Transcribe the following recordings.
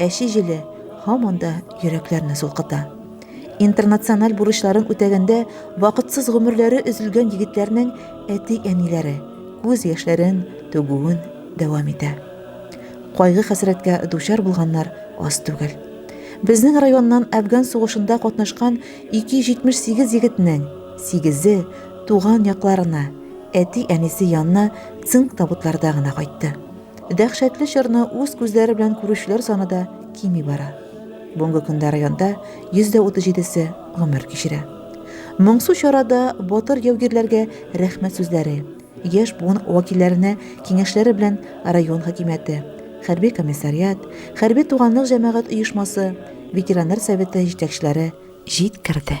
Әче җиле һаман да йөрәкләрне сулкыта. Интернациональ бурычларын үтәгәндә вакытсыз гомерләре өзелгән егетләрнең әти-әниләре күз яшьләрен түгүен дәвам итә. Кайгы хәсрәткә дучар булганнар аз түгел. Безнең районнан Афган сугышында катнашкан 278 егетнең 8-е туган якларына, әти-әнисе янына цинк табутларда гына кайтты. Дәһшәтле чорны үз күзләре белән күрүчеләр саны да кими бара. Бүгенге көндә районда 137-се гомер кичерә. Моңсу чарада батыр яугирләргә рәхмәт сүзләре, яшь буын вәкилләренә киңәшләре белән район хакимияте, хәрби комиссариат, хәрби туганлык җәмәгать оешмасы, ветераннар советы җитәкчеләре җиткерде.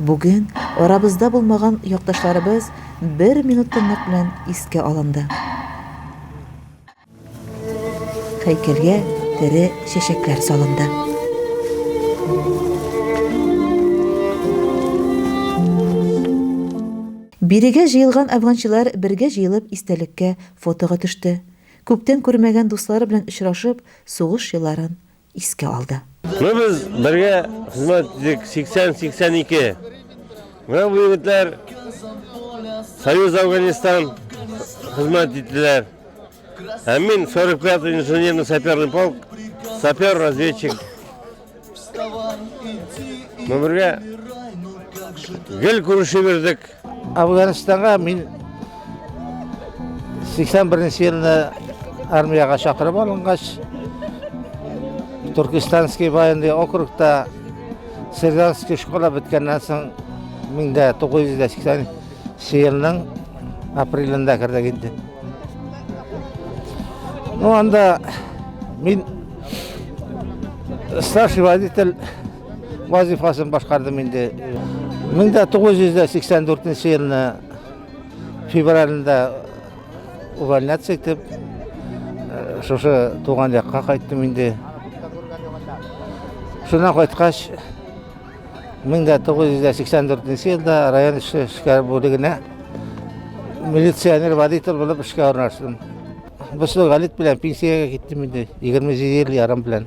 Бүген арабызда булмаган якташларыбыз бер минут тынлык белән искә алынды. Һәйкәлгә тере чәчәкләр салынды. Бирегә җыелган әфганчылар бергә җыелып истәлеккә фотога төште. Күптән күрмәгән дуслары белән очрашып, сугыш елларын искә алды. Менә без бергә хезмәт иттек 80-82. Менә бу егетләр Союз Афганистан хезмәт иттеләр. Ә мин 45-й инженерный саперный полк, сапер-разведчик. Мы бергә гел күрешеп йөрдек. Афганистанга мин 81 елны армияга чакырып алынгач, Туркестанский военный округта сержантский школа беткәннән соң 1980 елның апрелендә кердек инде. Ну анда мин старший водитель вазифасын башкардым инде. 1984 елны февральдә увольняться итеп, э, шушы туган якка кайттым инде. Шуннан кайткач, 1984 елда район эше эшкәр бүлегенә милиционер водитель булып эшкә орнаштым. Бу галит белән пенсиягә киттем инде, 27 ел ярым белән.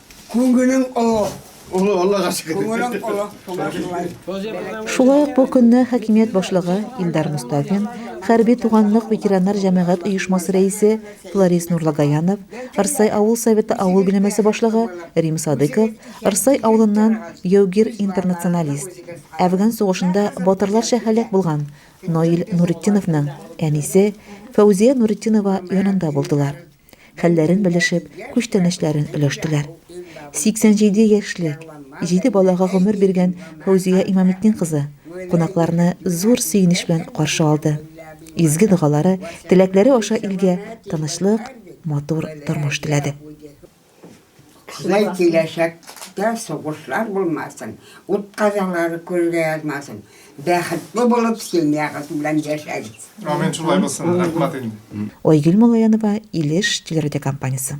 Күңелең олы. Олы, Аллага шөкер. Күңелең олы, шуңа шулай. Шулай ук бу көнне хакимият башлыгы Илдар Мостафин, хәрби туганлык ветераннар җәмәгать оешмасы рәисе Фларис Нурлагаянов, Рсай авыл советы авыл биләмәсе башлыгы Рим Садыйков, Рсай авылыннан яугир интернационалист, Әфган сугышында батырларча һәлак булган Наил Нуретдиновның әнисе Фәүзия Нуретдинова янында булдылар. хәлләрен белешеп, күчтәнәчләрен өләштеләр. 87 яшьлек, 7 балага гомер биргән Фәүзия Имаметдин кызы кунакларны зур сөенеч белән каршы алды. Изге догалары, теләкләре аша илгә тынычлык, матур тормыш теләде. Теләй киләчәктә сугышлар булмасын, ут казалары күлгә язмасын. Бәхетле булып семьягыз белән яшәгез. Амин шулай булсын, рәхмәт инде. Айгөл Малаянова, Илеш телерадиокомпаниясе.